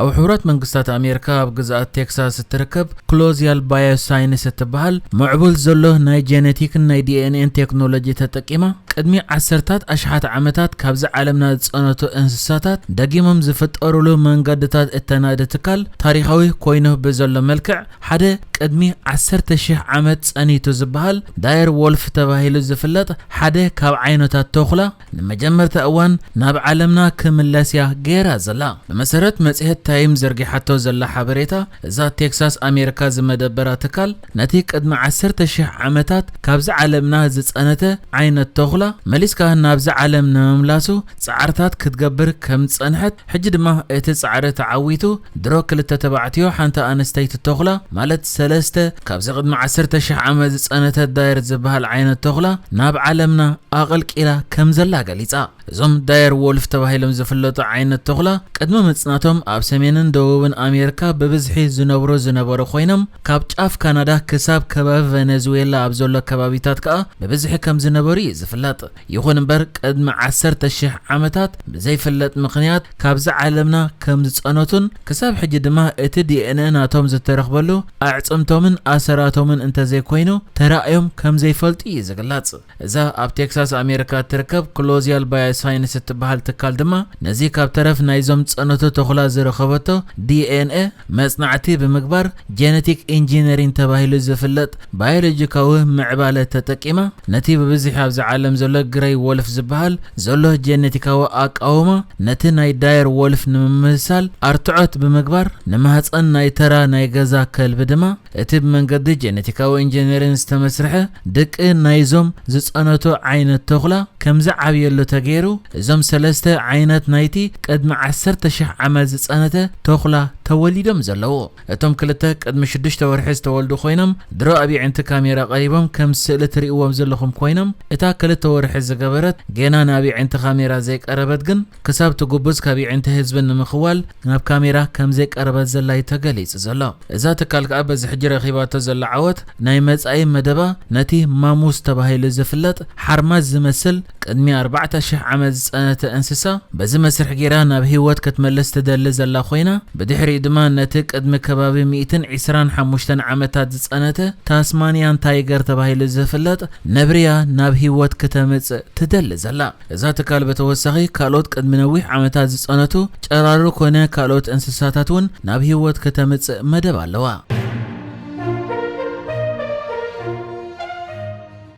ኣብ ሕቡራት መንግስታት ኣሜርካ ኣብ ግዝኣት ቴክሳስ እትርከብ ክሎዝያል ባዮሳይንስ እትበሃል ምዕቡል ዘሎ ናይ ጀነቲክን ናይ ዲኤንኤን ቴክኖሎጂ ተጠቂማ ቅድሚ ዓሰርታት ኣሽሓት ዓመታት ካብዚ ዓለምና ዝጸነቱ እንስሳታት ደጊሞም ዝፍጠሩሉ መንገድታት እተናዲ ትካል ታሪኻዊ ኮይኑ ብዘሎ መልክዕ ሓደ ቅድሚ ዓሰርተ ሽሕ ዓመት ጸኒቱ ዝበሃል ዳየር ዎልፍ ተባሂሉ ዝፍለጥ ሓደ ካብ ዓይነታት ተኹላ ንመጀመርታ እዋን ናብ ዓለምና ክምለስ እያ ገይራ ዘላ። ብመሰረት መጽሔት ታይም ዘርጊሓቶ ዘላ ሓበሬታ፣ እዛ ቴክሳስ ኣሜሪካ ዝመደበራ ትካል፣ ነቲ ቅድሚ ዓሰርተ ሽሕ ዓመታት ካብዚ ዓለምና ዝጸነተ ዓይነት ተኹላ መሊስካ ናብዚ ዓለም ንምምላሱ ጻዕርታት ክትገብር ከም ዝጸንሐት ሕጂ ድማ እቲ ጻዕሪ ተዓዊቱ፣ ድሮ ክልተ ተባዕትዮ ሓንቲ ኣንስተይቲ ቶኽላ፣ ማለት ሰለስተ ካብዚ ቅድሚ ዓሰርተ ሽሕ ዓመት ዝጸነተት ዳየር ዝበሃል ዓይነት ቶኽላ ናብ ዓለምና ኣቐልቂላ ከም ዘላ ገሊጻ። እዞም ዳየር ዎልፍ ተባሂሎም ዝፍለጡ ዓይነት ቶኽላ ቅድሚ ምጽናቶም ኣብ ሰሜንን ደቡብን ኣሜርካ ብብዝሒ ዝነብሩ ዝነበሩ ኮይኖም ካብ ጫፍ ካናዳ ክሳብ ከባቢ ቨነዝዌላ ኣብ ዘሎ ከባቢታት ከኣ ብብዝሒ ከም ዝነበሩ እዩ ዝፍለጥ። ይኹን እምበር ቅድሚ ዓሰርተ ሽሕ ዓመታት ብዘይፍለጥ ምኽንያት ካብዛ ዓለምና ከም ዝጸነቱን ክሳብ ሕጂ ድማ እቲ ዲኤንኤ ናቶም ዝተረኽበሉ ኣዕጽምቶምን ኣሰራቶምን እንተዘይኮይኑ ተራእዮም ከም ዘይፈልጡ እዩ ዝግለጽ። እዛ ኣብ ቴክሳስ ኣሜሪካ እትርከብ ክሎዚያል ባዮሳይንስ እትበሃል ትካል ድማ ነዚ ካብ ተረፍ ናይዞም ዝጸነቱ ተኹላ ዝረኸበቶ ዲኤንኤ መጽናዕቲ ብምግባር ጀነቲክ ኢንጂነሪን ተባሂሉ ዝፍለጥ ባዮሎጂካዊ ምዕባለ ተጠቂማ ነቲ ብብዝሒ ኣብዛ ዓለም ዘሎ ግረይ ዎልፍ ዝበሃል ዘሎ ጀነቲካዊ ኣቃውማ ነቲ ናይ ዳየር ዎልፍ ንምምስሳል ኣርትዖት ብምግባር ንማህጸን ናይ ተራ ናይ ገዛ ከልቢ ድማ እቲ ብመንገዲ ጀነቲካዊ ኢንጀነሪን ዝተመስርሐ ድቂ ናይዞም ዝጸነቱ ዓይነት ተኹላ ከም ዝዓብየሉ ተገይሩ፣ እዞም ሰለስተ ዓይነት ናይቲ ቅድሚ ዓሰርተ ሽሕ ዓመት ዝጸነተ ተኹላ ተወሊዶም ዘለዉ። እቶም ክልተ ቅድሚ ሽዱሽተ ወርሒ ዝተወልዱ ኮይኖም ድሮ ኣብ የዒንቲ ካሜራ ቀሪቦም ከም ስእሊ ትሪእዎም ዘለኹም ኮይኖም እታ ክልተ ወርሒ ዝገበረት ጌና ናብ የዒንቲ ካሜራ ዘይቀረበት ግን ክሳብ ትጉብዝ ካብ የዒንቲ ህዝቢ ንምኽዋል ናብ ካሜራ ከምዘይቀረበት ዘላ እዩ ተገሊጹ ዘሎ። እዛ ትካል ከኣ በዚ ሕጂ ረኺባቶ ዘላ ዓወት ናይ መጻኢ መደባ ነቲ ማሙስ ተባሂሉ ዝፍለጥ ሓርማዝ ዝመስል ቅድሚ ኣርባዕተ ሽሕ ዓመት ዝጸነተ እንስሳ በዚ መስርሕ ጌራ ናብ ህይወት ክትመልስ ትደሊ ዘላ ኮይና ብድሕሪኡ ድማ ነቲ ቅድሚ ከባቢ ሚእትን ዒስራን ሓሙሽተን ዓመታት ዝጸነተ ታስማንያን ታይገር ተባሂሉ ዝፍለጥ ነብሪ'ያ ናብ ህይወት ክተምጽእ ትደሊ ዘላ። እዛ ትካል ብተወሳኺ ካልኦት ቅድሚ ነዊሕ ዓመታት ዝጸነቱ ጨራሩ ኮነ ካልኦት እንስሳታት እውን ናብ ህይወት ከተምጽእ መደብ ኣለዋ።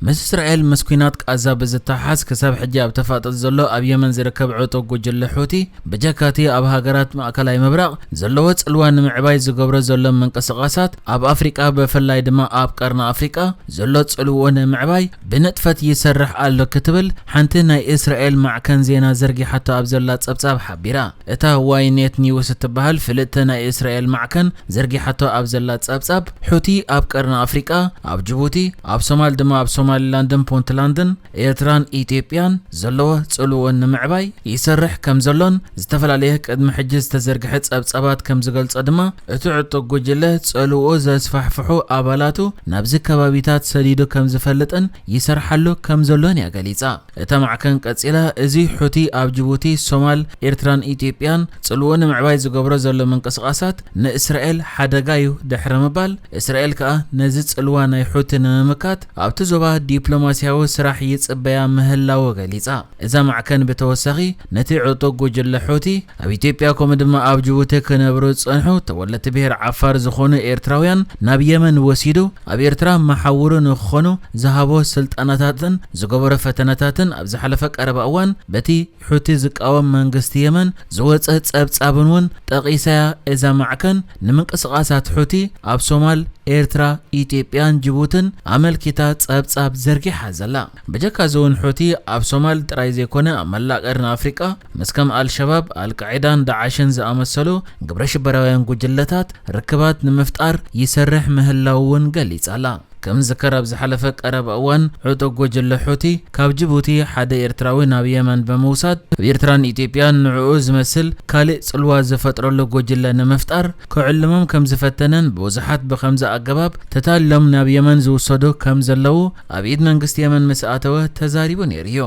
ምስ እስራኤል ምስ ኲናት ቃዛ ብዝተሓሓዝ ክሳብ ሕጂ ኣብ ተፋጠጥ ዘሎ ኣብ የመን ዝርከብ ዕጡቕ ጉጅለ ሑቲ ብጀካቲ ኣብ ሃገራት ማእከላይ ምብራቕ ዘለዎ ጽልዋ ንምዕባይ ዝገብሮ ዘሎ ምንቅስቓሳት ኣብ ኣፍሪቃ ብፍላይ ድማ ኣብ ቀርኒ ኣፍሪቃ ዘሎ ጽልውኡ ንምዕባይ ብንጥፈት ይሰርሕ ኣሎ ክትብል ሓንቲ ናይ እስራኤል ማዕከን ዜና ዘርጊሓቶ ኣብ ዘላ ጸብጻብ ሓቢራ። እታ ዋይ ኔት ኒውስ እትበሃል ፍልጥቲ ናይ እስራኤል ማዕከን ዘርጊሓቶ ኣብ ዘላ ጸብጻብ፣ ሑቲ ኣብ ቀርኒ ኣፍሪቃ፣ ኣብ ጅቡቲ፣ ኣብ ሶማል ድማ ኣብ ሶማሊላንድን ፑንትላንድን፣ ኤርትራን ኢትዮጵያን፣ ዘለዎ ጽልዎ ንምዕባይ ይሰርሕ ከምዘሎን ዝተፈላለየ ቅድሚ ሕጂ ዝተዘርግሐ ጸብጻባት ከምዝገልጾ ድማ እቲ ዕጡቕ ጉጅለ ጸልውኡ ዘስፋሕፍሑ ኣባላቱ ናብዚ ከባቢታት ሰዲዱ ከም ዝፈልጥን ይሰርሓሉ ከም ዘሎን እያ ገሊጻ። እታ ማዕከን ቀጺላ፣ እዚ ሑቲ ኣብ ጅቡቲ፣ ሶማል፣ ኤርትራን ኢትዮጵያን ጽልውኡ ንምዕባይ ዝገብሮ ዘሎ ምንቅስቓሳት ንእስራኤል ሓደጋ'ዩ ድሕሪ ምባል፣ እስራኤል ከኣ ነዚ ጽልዋ ናይ ሑቲ ንምምካት ኣብቲ ዞባ ዲፕሎማስያዊ ስራሕ ይጽበያ ምህላዉ ገሊጻ። እዛ ማዕከን ብተወሳኺ ነቲ ዕጡቕ ጉጅለ ሑቲ ኣብ ኢትዮጵያ ከምኡ ድማ ኣብ ጅቡቲ ክነብሩ ዝጸንሑ ተወለድቲ ብሄር ዓፋር ዝኾኑ ኤርትራውያን ናብ የመን ወሲዱ ኣብ ኤርትራ መሓውሩ ንክኾኑ ዝሃቦ ስልጠናታትን ዝገበሮ ፈተነታትን ኣብ ዝሓለፈ ቀረባ እዋን በቲ ሑቲ ዝቃወም መንግስቲ የመን ዝወጸ ጸብጻብን እውን ጠቒሳ'ያ እዛ ማዕከን ንምንቅስቓሳት ሑቲ ኣብ ሶማል፣ ኤርትራ፣ ኢትዮጵያን ጅቡትን ኣመልኪታ ጸብጻብ ዘርጊሓ ዘላ። ብጀካ እዚ ውን ሑቲ ኣብ ሶማል ጥራይ ዘይኮነ ኣብ መላእ ቀርኒ ኣፍሪቃ ምስ ከም ኣልሸባብ፣ ኣልቃዒዳን ዳዕሽን ዝኣመሰሉ ግብረ ሽበራውያን ጉጅለታት ርክባት ንምፍጣር ይሰርሕ ምህላዉ ውን ገሊጻ'ላ። ከም ዝዝከር ኣብ ዝሓለፈ ቀረባ እዋን ዕጡቕ ጉጅለ ሑቲ ካብ ጅቡቲ ሓደ ኤርትራዊ ናብ የመን ብምውሳድ ኣብ ኤርትራን ኢትዮጵያን ንዕኡ ዝመስል ካልእ ጽልዋ ዝፈጥረሉ ጉጅለ ንምፍጣር ክዕልሞም ከም ዝፈተነን ብብዙሓት ብኸምዚ ኣገባብ ተታሊሎም ናብ የመን ዝውሰዱ ከም ዘለዉ ኣብ ኢድ መንግስቲ የመን ምስ ኣተወ ተዛሪቡ ነይሩ እዩ።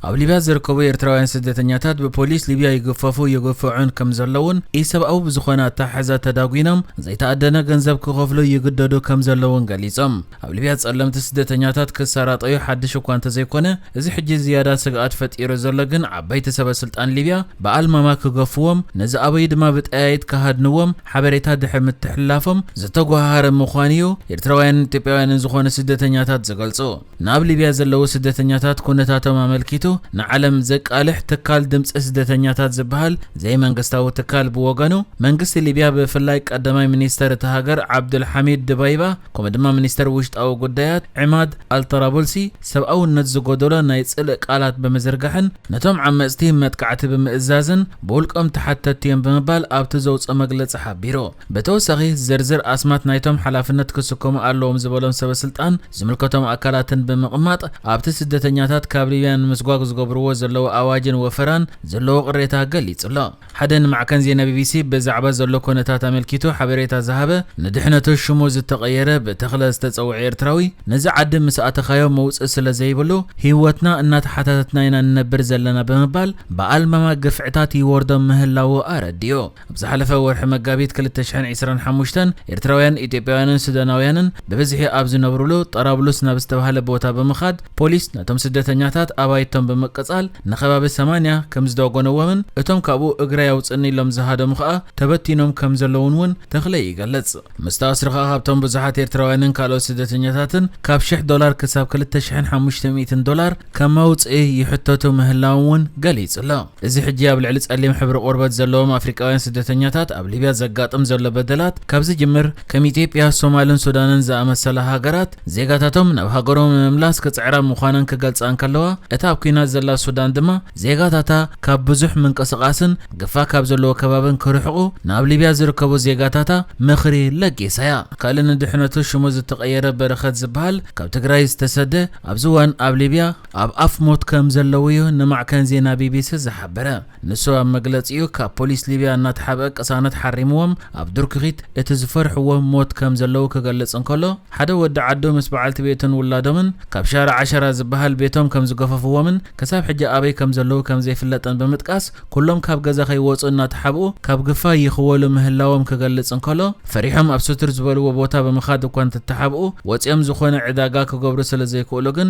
ኣብ ሊብያ ዝርከቡ ኤርትራውያን ስደተኛታት ብፖሊስ ሊብያ ይግፈፉ ይግፍዑን ከም ዘለውን ኢሰብኣዊ ብዝኾነ ኣተሓሕዛ ተዳጒኖም ዘይተኣደነ ገንዘብ ክኸፍሉ ይግደዱ ከም ዘለውን ገሊጾም። ኣብ ሊብያ ጸለምቲ ስደተኛታት ክሰራጠዩ ሓድሽ እኳ እንተዘይኮነ፣ እዚ ሕጂ ዝያዳ ስግኣት ፈጢሩ ዘሎ ግን ዓበይቲ ሰበስልጣን ሊብያ ብኣልማማ ክገፍዎም፣ ነዚ ኣበዩ ድማ ብጠያይት ክሃድንዎም ሓበሬታ ድሕሪ ምትሕልላፎም ዝተጎሃሃረ ምዃኑ'ዩ ኤርትራውያንን ኢትዮጵያውያንን ዝኾኑ ስደተኛታት ዝገልጹ። ንኣብ ሊብያ ዘለዉ ስደተኛታት ኩነታቶም ኣመልኪቱ ንዓለም ዘቃልሕ ትካል ድምጺ ስደተኛታት ዝበሃል ዘይመንግስታዊ ትካል ብወገኑ፣ መንግስቲ ሊብያ ብፍላይ ቀዳማይ ሚኒስተር እታ ሃገር ዓብዱልሓሚድ ድባይባ፣ ከምኡ ድማ ሚኒስተር ውሽጣዊ ጉዳያት ዕማድ ኣልጠራቡልሲ ሰብኣውነት ዝጎደሎ ናይ ጽልእ ቃላት ብምዝርጋሕን ነቶም ዓመጽቲ መጥቃዕቲ ብምእዛዝን ብውልቆም ተሓተትቲ እዮም ብምባል ኣብቲ ዘውጽኦ መግለጺ ሓቢሩ። ብተወሳኺ ዝርዝር ኣስማት ናይቶም ሓላፍነት ክስከሙ ኣለዎም ዝበሎም ሰበስልጣን ዝምልከቶም ኣካላትን ብምቕማጥ ኣብቲ ስደተኛታት ካብ ሊብያ ንምስጓግ ዝገብርዎ ዘለዉ ኣዋጅን ወፈራን ዘለዎ ቅሬታ ገሊጹ'ሎ። ሓደ ንማዕከን ዜና ቢቢሲ ብዛዕባ ዘሎ ኮነታት ኣመልኪቱ ሓበሬታ ዝሃበ፣ ንድሕነቱ ሽሙ ዝተቐየረ ብ ተኽለ ዝተጸውዐ ኤርትራዊ፣ ነዚ ዓዲ ምስ ኣተኻዮ መውጽኢ ስለ ዘይብሉ፣ ህይወትና እናተሓታተትና ኢና ንነብር ዘለና ብምባል ብኣልማማ ግፍዕታት ይወርዶም ምህላዉ ኣረዲኡ። ኣብ ዝሓለፈ ወርሒ መጋቢት ክልተ ሽሕን ዒስራን ሓሙሽተን፣ ኤርትራውያን፣ ኢትዮጵያውያንን ሱዳናውያንን ብብዝሒ ኣብ ዝነብሩሉ ጠራብሉስ ናብ ዝተባህለ ቦታ ብምኻድ፣ ፖሊስ ነቶም ስደተኛታት ኣባይቶም ብምቅጻል ንከባቢ ሰማንያ ከምዝዶጎነዎምን እቶም ካብኡ እግረይ ኣውጽእኒ ኢሎም ዝሃደሙ ከኣ ተበቲኖም ከምዘለዉን እውን ተኽለይ ይገልጽ። ምስ ተኣስሩ ከኣ ካብቶም ብዙሓት ኤርትራውያንን ካልኦት ስደተኛታትን ካብ ሽሕ ዶላር ክሳብ ክልተ ሽሕን ሓሙሽተ ሚእትን ዶላር ከም መውጽኢ ይሕተቱ ምህላዎም እውን ገሊጹ ኣሎ። እዚ ሕጂ ኣብ ልዕሊ ጸሊም ሕብሪ ቆርበት ዘለዎም ኣፍሪቃውያን ስደተኛታት ኣብ ሊብያ ዘጋጥም ዘሎ በደላት ካብ ዝጅምር ከም ኢትዮጵያ፣ ሶማልን ሱዳንን ዝኣመሰላ ሃገራት ዜጋታቶም ናብ ሃገሮም ንምምላስ ክጽዕራ ምዃነን ክገልጻ እንከለዋ፣ እታ ኣብ ኲናት ዘላ ሱዳን ድማ ዜጋታታ ካብ ብዙሕ ምንቅስቓስን ግፋ ካብ ዘለዎ ከባብን ክርሕቑ ናብ ሊብያ ዝርከቡ ዜጋታታ ምኽሪ ለጊሳ'ያ። ካልእ ንድሕነቱ ሽሙ ዝተቐየረ በረኸት ዝበሃል ካብ ትግራይ ዝተሰደ፣ ኣብዚ እዋን ኣብ ሊብያ ኣብ ኣፍ ሞት ከም ዘለው'ዩ ንማዕከን ዜና ቢቢሲ ዝሓበረ። ንሱ ኣብ መግለጺኡ፣ ካብ ፖሊስ ሊብያ እናተሓብአ ቅሳነት ሓሪምዎም ኣብ ድርኩኺት እቲ ዝፈርሕዎ ሞት ከም ዘለዉ ክገልጽ እንከሎ፣ ሓደ ወዲ ዓዱ ምስ በዓልቲ ቤቱን ውላዶምን ካብ ሻርዕ ዓሸራ ዝበሃል ቤቶም ከም ዝገፈፍዎምን ክሳብ ሕጂ ኣበይ ከም ዘለዉ ከም ዘይፍለጥን ብምጥቃስ ኩሎም ካብ ገዛ ከይወጹ እናተሓብኡ ካብ ግፋ ይኽወሉ ምህላዎም ክገልጽ እንከሎ፣ ፈሪሖም ኣብ ስቱር ዝበልዎ ቦታ ብምኻድ እኳ እንተተሓብኡ ወጺኦም ዝኾነ ዕዳጋ ክገብሩ ስለ ዘይክእሉ ግን